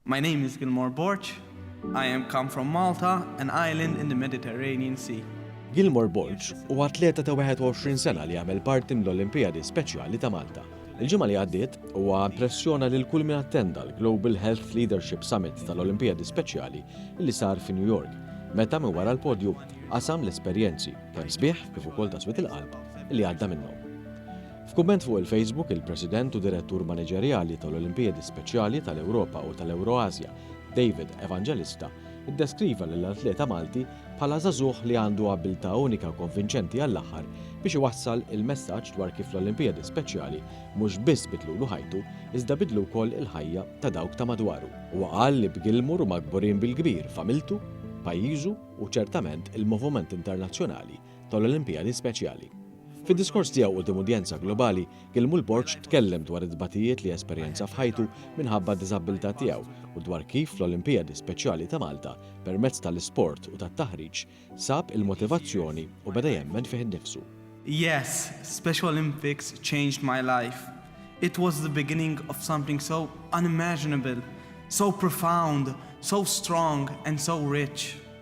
My name is Gilmore Borg. I am come from Malta, an island in the Mediterranean Sea. Gilmore Borg u atleta ta' 21 sena li għamel parti mill-Olimpijadi Speċjali ta' Malta. Il-ġimgħa li għaddiet huwa impressjona lil kull min attenda l-Global Health Leadership Summit tal-Olimpijadi Speċjali li sar fi New York, meta minn wara l-podju qasam l-esperjenzi kemm sbieħ kif ukoll ta' swit il-qalb li għadda minnhom. F'kumment fuq il-Facebook, il-President u Direttur Maniġerjali tal-Olimpijadi Speċjali tal-Ewropa u tal-Ewroasja, David Evangelista, iddeskriva lill-atleta Malti bħala żagħżugħ li għandu abbiltà unika u konvinċenti għall-aħħar biex iwassal il-messaġġ dwar kif l-Olimpijadi Speċjali mhux biss bidlulu ħajtu iżda bidlu wkoll il-ħajja ta' dawk ta' madwaru. Huwa qal li b'Gilmour huma kburin bil-kbir f'għamiltu, pajjiżu u ċertament il-moviment internazzjonali tal-Olimpijadi Speċjali. Fid-diskors tiegħu quddiem udjenza globali, Gilmul Borg tkellem dwar it-tbatijiet li esperjenza f'ħajtu minħabba d-diżabbiltà tiegħu u dwar kif fl-Olimpijadi Speċjali ta' Malta, permezz tal-isport u tat-taħriġ, sab il-motivazzjoni u beda jemmen fih innifsu. Yes, Special Olympics changed my life. It was the beginning of something so unimaginable, so profound, so strong and so rich.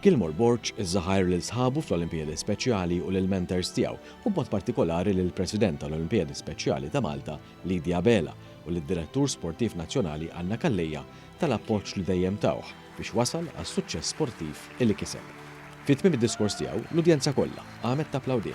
Gilmore Borg żaħar lil sħabu fl-Olimpijadi Speċjali u lill-mentors tiegħu, u b'mod partikolari lill-President tal-Olimpijadi Speċjali ta' Malta, Lydia Abela, u lid-Direttur Sportiv Nazzjonali Anna Calleja tal-appoġġ li dejjem tawh biex wasal għas-suċċess sportiv li kiseb. Fi tmiem id-diskors tiegħu, l-udjenza kollha, Qamet tapplawdih.